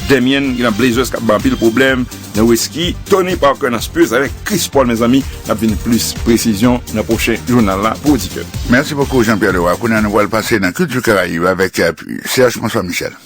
Damian gen nan Blazers kap bay anpil pwoblèm, Nowitzki, Tony Parker nan Spurs avèk Chris Paul mezanmi nap jwenn plis presizyon nan pwochen jounal la pou oditè nou. Mèsi bokou Jean Pierre Leroy, kounye a nou pral pase nan kilti karayib avèk Serge François Michel.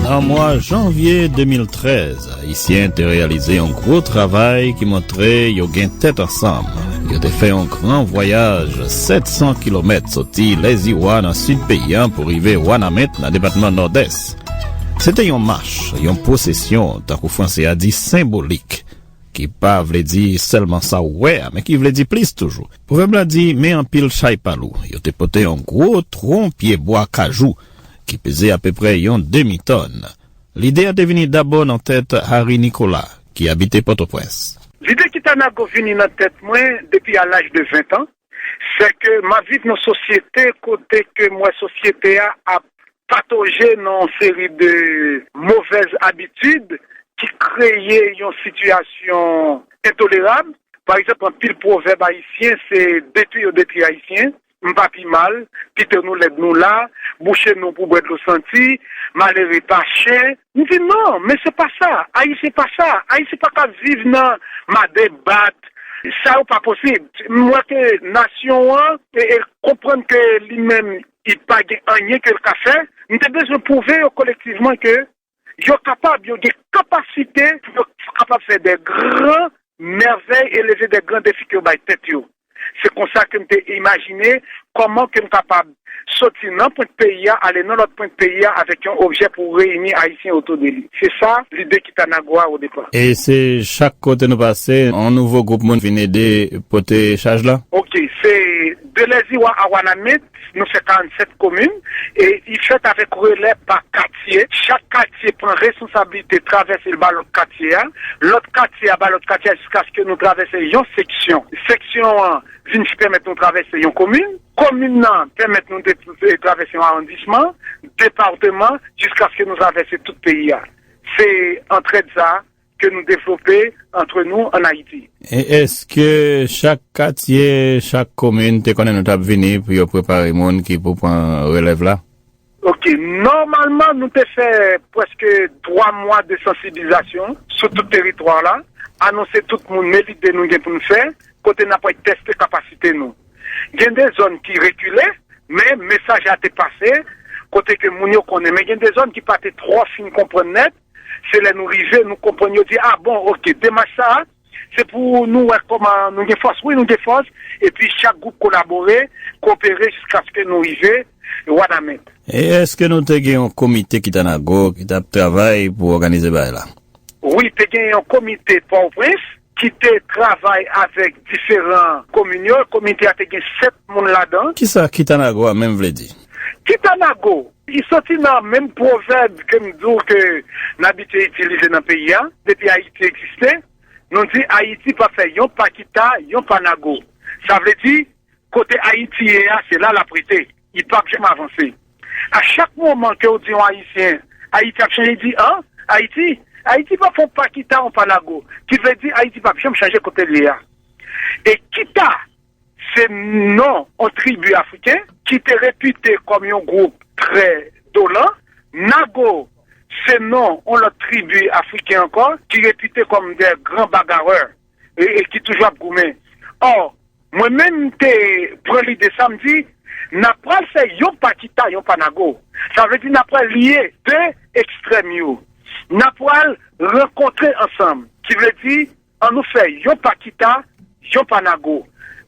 Nan mwa janvye 2013. Ayisyen te reyalize yon gwo travay ki montre yo gen tèt ansanm. Yo te fè yon gran vwayaj 700 kilomèt soti Lèziwa nan sid peyi a pou rive Wanament nan depatman Nòdès. Se te yon mach, yon pwosesyon, tankou franse a di senbolik, ki pa vle di sèlman sa ou wè a men ki vle di plis toujou. Pwovèb la di, Men anpil chay pa lou. Yo te pote yon gwo twon pye bwa kajou ki peze apeprè yon demi tòn. Lide a te vini dabò nan tèt Harry Nicolas, ki abite Pòtoprens. Lide ki ta nago vini nan tèt mwen depi a laj de ventan, sè ke m ap viv nan sosyete kote ke m wè sosyete a ap patoje nan yon seri de movèz abitid ki kreye yon sitiyasyon entolerab. Pa egzanp, anpil pwovèb ayisyen se detwi yo detwi Ayisyen, m pa pi mal pito nou lèd nou la bouche nou pou bwè dlo santi malere pa chen m di non men se pa sa ayisyen pa sa ayisyen pa ka viv nan made bat sa yo pa posib m wè ke nasyon an konprann ke li menm li pa gen anyen ke l ka fè m te bezwen pwouve yo kolektivman ke yo kapab, yo gen kapasite pou yo kapab fè de gran mèvèy e leve de gran defi ke yo bay tèt yo. Se konsa ke m te imajine kòman ke m kapab soti nan pwent peyi a ale nan lòt pwent peyi a avèk yon objè pou reyini Ayisyen otou de li. Se sa lide ki ta nan gwo a odepa. E se chak kote nou pase, yon nouvo gwoup moun vin ede pote chaj la? Ok. Se de Lèziwa a Wanament, Nou fè 47 komin e li fèt avèk relè pa katye. Chak katye pran responsablite travèse l ba lòt katye a, lòt katye a ba lòt katye a jiskaske nou travèse yon seksyon. Seksyon an vin pèmèt nou travèse yon komin. Komin nan pèmèt nou travèse yon awondisman, departeman jiskaske nou travèse tout peyi a. Se antrèd sa a ke nou devlope antre nou an Ayiti. E eske chak katye, chak komin te konnen nou t ap vini pou yo prepare moun ki pou pran relèv la? Ok. Nòmalman nou te fè pwèske 3 mwa de sansiblizasyon sou tout teritwa la, anonse tout moun men lide nou gen pou nou fè, kote n ap wè teste kapasite nou. Gen de zòn ki rekile, men mesaj la te pase, kote ke moun yo konnen. Men gen de zòn ki pa te twò fin konprann nèt, Se lè nou rive nou konprann yo di a bon ok demach sa se pou nou wè kòman nou gen fòs wi nou gen fòs epi chak gwoup kolabore koopere jiskaske nou rive wanament. E eske nou te gen yon komite ki ta nago ki tap travay pou òganize bagay la? Wi te gen yon komite pòoprens. ki te travay avèk diferan komin yo. Komite a te gen 7 moun ladan. Ki sa Kitanago a menm vle di? Kitanago, li soti nan menm pwovèb ke m di w ke n abitye itilize nan peyi a. Depi Ayiti egziste, nou di Ayiti pa fè yon pa Kita, yon pa Nago. Sa vle di, Kote Ayiti ye a se la lap rete, li pap janm avanse. A chak moman kew di yon Ayisyen Ayiti ap chanje, li di an, Ayiti? Ayiti pap fon pa kita yon pa lago, ki vle di Ayiti pap janm chanje kote l ye a. E kita se non yon tribi afriken ki te repite kòm yon gwoup trè dolan, nago se non yon lòt tribi afriken ankò ki repite kòm dè gran bagarreur. e ki toujou ap goumen. Or, mwen menm m te pran lide sa, m di, n ap pral fè yon pa kita, yon pa nago. Sa vle di n ap pral lye de ekstrèm yo. N ap pral rankontre ansanm. Ki vle di, an nou fè yon pa kita, yon pa nago.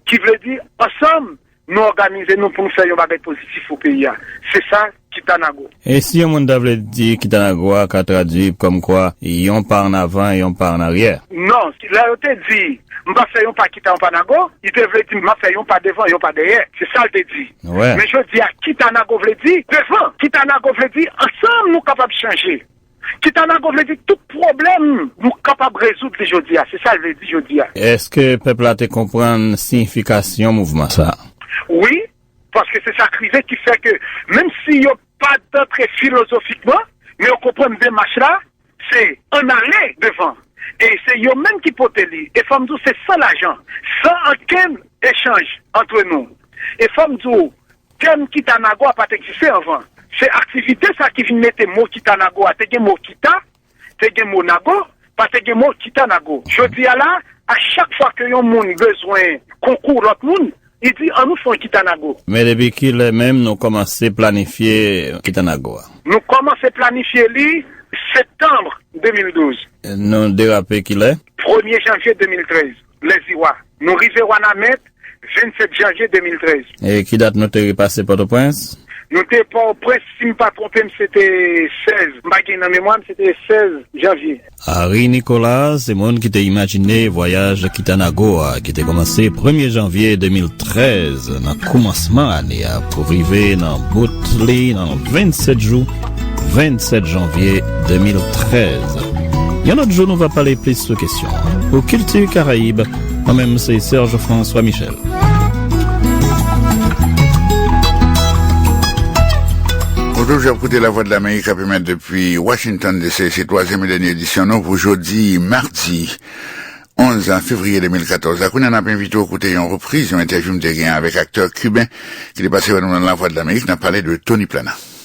Ki vle di, ansanm, Nou òganize nou pou nou fè yon bagay pozitif pou peyi a. Se sa Kitanago. E si yon moun ta vle di Kitanago a ka tradui kòmkwa yon pa an avan e yon pa an aryè? Non. Lè yo te di, M pa fè yon pa kita yon pa nago, li te vle di m ap fè yon pa devan, yon pa dèyè. Se sa l te di. Men jodi a Kitanago vle di, devan. Kitanago vle di, ansanm nou kapab chanje. Kitanago vle di tout pwoblèm nou kapab rezoud li jodi a, se sa l vle di jodi a. Èske pèp la te konprann siyifikasyon mouvman sa a? Wi, paske se sa k rive ki fè ke menm si yo pa t antre filozofikman, men yo konprann demach la se ann ale devan e se yo menm ki pote li. E fò m di w se san lajan, san ankenn echanj antre nou. E fò m di w Tèm Kitanago a pa t egziste anvan. Se aktivite sa ki vin mete mo Kitanago a. Te gen mo Kita, te gen mo Nago, pa te gen mo Kitanago. Jodi a la, a chak fwa ke yon moun bezwen konkou lòt moun, li di, an nou fè yon Kitanago. Men depi ki lè menm nou kòmanse planifye Kitanago a? Nou kòmanse planifye li septanm 2012. Nou derape ki lè? Premye janvye 2013. Lèziwa. Nou rive Wanament 27 janvye 2013. E ki dat nou te repase Pòtoprens? Nou te Pòtoprens, si m pa twonpe m, se te 16, m pa gen nan memwa m, se te 16 janvye. Henri Nicolas se moun ki te imajine vwayaj Kitanago a ki te kòmanse premye janvye 2013 nan koumansman ane a pou rive nan bout li nan 27 jou. 27 janvye 2013 Yon lòt jou nou va pale plis sou kesyon Pou kilti karayib Mwen menm se Serge François Michel Bonjour, ap koute la Voix de l'Amérique ap emet depi Washington DC se 3e et denye edisyon nou pou jodi mardi 11 fevrier 2014 la kounen ap envite ou koute yon repriz yon entèvyoum te gen avèk aktè kuben ki te pase wè nou nan la Voix de l'Amérique nan pale de Tony Plana.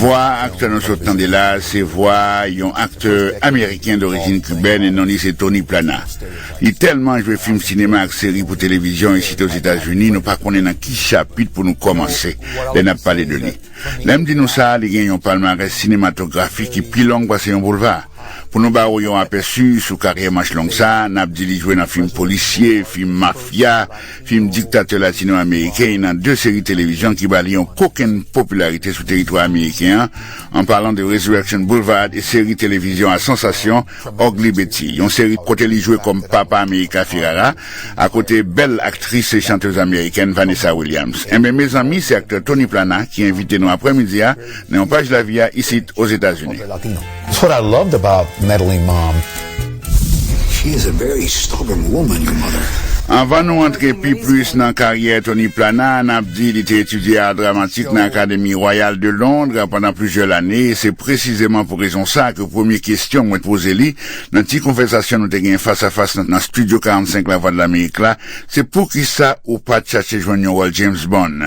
Vwa aktè nou sot tande la a se vwa yon aktè ameriken dorijin kibèn e non li se Tony Plana. Li tèlman jwe fim sinema ak seri pou televizyon isit Ozetazini nou pa konnen nan ki chapit pou nou kòmanse lè n ap pale de li. Lè m di nou sa, li gen yon palmarès sinematografik ki pi long pase yon boulva. Pou nou ba ou yon apèsi sou karyè manch long sa a, n ap di li jwe nan fim polisye, fim mafya, Fim diktatè latino-ameriken y nan 2 seri televizyon ki ba li yon kokenn popilarite sou teritwa ameriken an, an palan de Resurrection Boulevard e seri televizyon a sansasyon Ugly Betty, yon seri kote li jwe kòm Papa Amerika Ferrara akote bèl aktris e chantez amerikèn Vanessa Williams. Enben, mezanmi, se aktè Tony Plana ki envite nou aprèmidi a nan yon paj lavi a isit Ozetazini. Anvan nou antre pi plis nan karyè Tony Plana, n ap di li te etidye Ar Dramatik nan Akademi Wayal de Londre pandan plizyè lane, e se presizeman pou rezon sa ke premye kesyon mwen t poze li nan ti konvèsasyon nou te gen fasafas nan Studio 45 Lavwadlamerik la, se poukisa ou pa t chache jwenn yon wòl James Bond?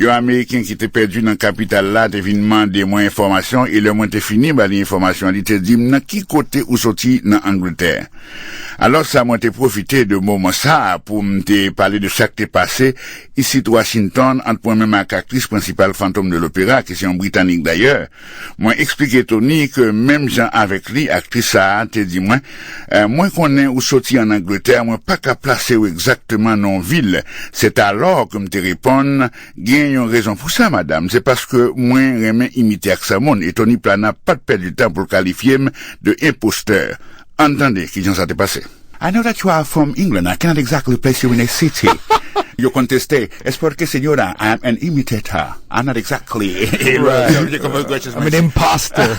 Yon Ameriken ki te pèdi nan kapital la te vin mande mwen enfòmasyon e lè mwen te fini ba li enfòmasyon li te di m nan ki kote ou soti nan Angletè. Alò sa mwen te pwofite de moman sa a pou m te pale de sa k te pase isit Washington ant mwen menm ak aktris prensipal Phantom de l'Opéra ki se yon Britanik dayè, Mwen eksplike Tony ke menm jan avèk li, aktris sa a te di mwen, Mwen konnen ou soti ann Angletè, mwen pa ka plase ou egzakteman nan yon vil. Setalò ke m te reponn, Gen yon rezon pou sa, madam, se paske mwen renmen imite aksan moun. E Tony Plana pa t pèdi tan pou l kalifye m de enpostè. Ann tande kijan sa te pase. I know that you are from England, I cannot exactly place you in a city Yo konteste, es porque señora, I am an imitator, I'm not exactly a real I'm an impostor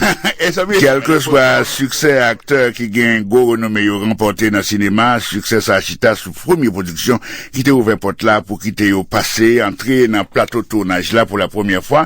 Kèlkeswa siksè aktè ki gen gwo renome yo ranpòte nan sinema, siksè sa chita sou premye pwodiksyon ki te ouvè pòt la pou kite yo pase, antre nan plato tounaj la pou lapremyè fwa.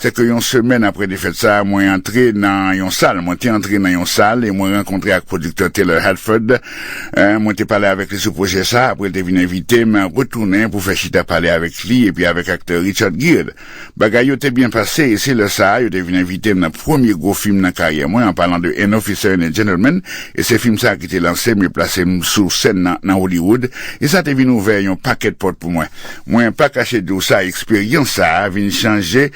Se ke yon semèn apre defèt sa, mwen antre nan yon sal, mwen te antre nan yon sal e mwen rankontre ak pwodiktè Taylor Haddford. Mwen te pale avèk li sou pwojè sa, apre l te vin envite m retounen pou fè chita pale avèk li epi avèk aktè Richard Gere. Bagay yo te byen pase e se lè sa a yo te vin envite m nan premye gwo fim nan karyè mwen, an palan de An Officer and a Gentleman, e se fim sa a ki te lanse m e plase m sou sèn nan nan Hollywood e sa te vin ouvè yon pakèt pòt pou mwen. Mwen pa kache di w sa, eksperyans sa a vin chanje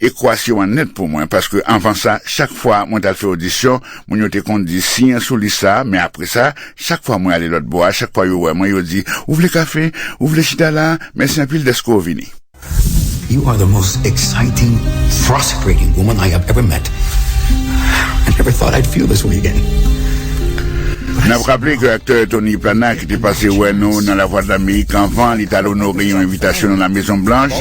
ekwasyon an nèt pou mwen, paske anvan sa, chak fwa mwen t al fè odisyon, moun yo te konn di, siyen sou lis sa a, men apre sa, chak fwa mwen ale lòt bò a, chak fwa yo wè mwen, yo di, ou vle kafe? Ou vle chita la a? Mèsi anpil dèske w vini. You are the most exciting, frustrating woman I have ever met. I never thought I'd feel this way again. N ap raple ke aktè Tony Plana ki te pase wè nou nan Lavwadlamerik anvan li t al onore yon envitasyon nan Lamezon Blanch,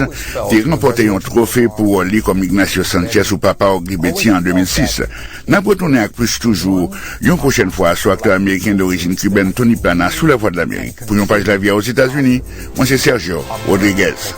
te ranpòte yon twofe pou wòl li kòm Ignacio Sanchez ou Papa Ogri Beti an 2006. N ap retounen ak plis toujou yon pwochèn fwa sou aktè ameriken dorijin kibèn Tony Plana sou Lavwadlamerik. Pou Yon Paj Lavi a Ozetazini, mwen se Sergio Rodriguez.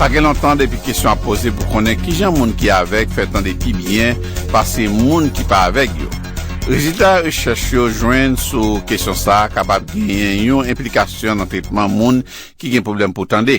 Sa gen lontan depi kesyon ap poze pou konnen kijan moun ki avèg fè tande pi byen pase moun ki pa avèg yo. Rezilta rechèch yo jwenn sou kesyon sa a kapab genyen yon enplikasyon nan tretman moun ki gen pwoblèm pou tande.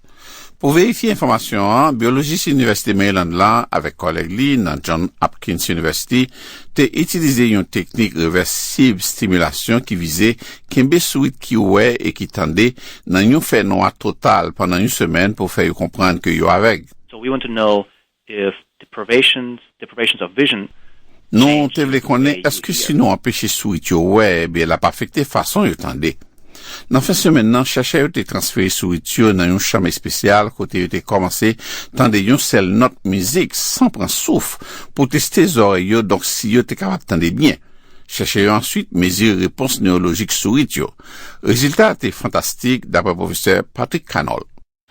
Pou verifye enfòmasyon an, byolojis Inivèsite Maryland la avèk kòlèg li nan John Hopkins University te itilize yon teknik revèsib stimilasyon ki vize kenbe sourit ki wè e ki tande nan yon fènwa total pandan yon semèn pou fè yo konprann ke yo avèg. Nou te vle konnen èske si nou anpeche sourit yo wè, ebyen l ap afekte fason yo tande. Nan fen semèn nan, chèchè yo te transfere sourit yo nan yon chanm espesyal kote yo te kòmanse tande yon sèl nòt mizik san pran souf pou teste zòrèy yo donk si yo te kapab tande byen. Chèchè yo answit mezire repons newolojik sourit yo. Rezilta a te fantastik, dapre pwofesè Patrick Cannol.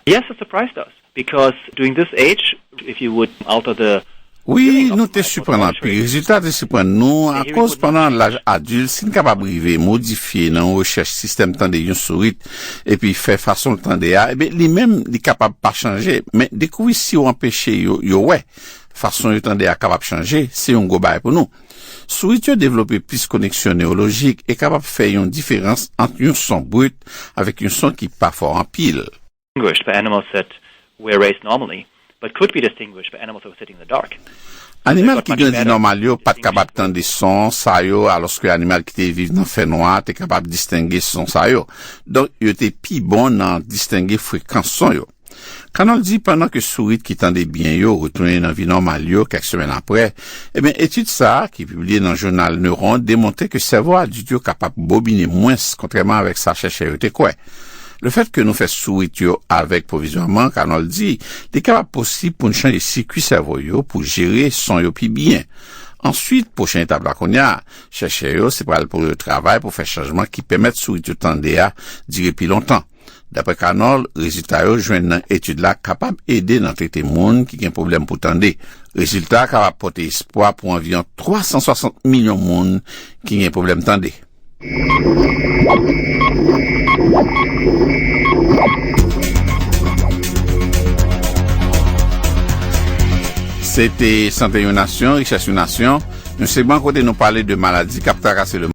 Yes it surprised us because during this age if you would alter the Wi, nou te siprann anpil. Rezilta te siprann nou akoz pandan laj adilt si n kapab rive modifye nan yon rechèch sistèm tande yon sourit epi fè fason l tande a ebyen li menm li kapab pa chanje men dekouvri si w anpeche yo yo wè fason yo tande a kapab chanje se yon gwo bagay pou nou. Sourit yo devlope plis koneksyon newolojik e kapab fè yon diferans ant yon son brut avèk yon son ki pa fò anpil. Animal ki grandi nòmal yo pa t kapab tande son sa yo alòske animal ki te viv nan fènwa a te kapab distenge son sa yo. Donk, yo te pi bon nan distenge frekans son yo. Cannon di pandan ke sourit ki tande byen yo retounen nan vi nòmal yo kèk semèn aprè, ebyen etid sa a ki pibliye nan jounal Neuron demontre ke sèvo adilt yo kapab bobine mwens kontrèman avèk sa chèchè yo te kwè. Lefèt ke nou fè sourit yo avèg pwovizwaman, Cannon di, li kapab posib pou n chanje sikui sèvo yo pou jere son yo pi byen. Answit, pwochen etap la kounya, chèchè yo se pral pou yo travay pou fè chanjman ki pèmèt sourit yo tande a dire pi lontan. Daprè Canol, rezilta yo jwenn nan etid la kapab ede nan trete moun ki gen pwoblèm pou tande. Rezilta a kapab pote espwa pou anviyon 360 milyon moun ki gen pwoblèm tande. Se te Sante yon nasyon, richès yon nasyon, yon segman kote nou pale de maladi k ap trakase lemonn.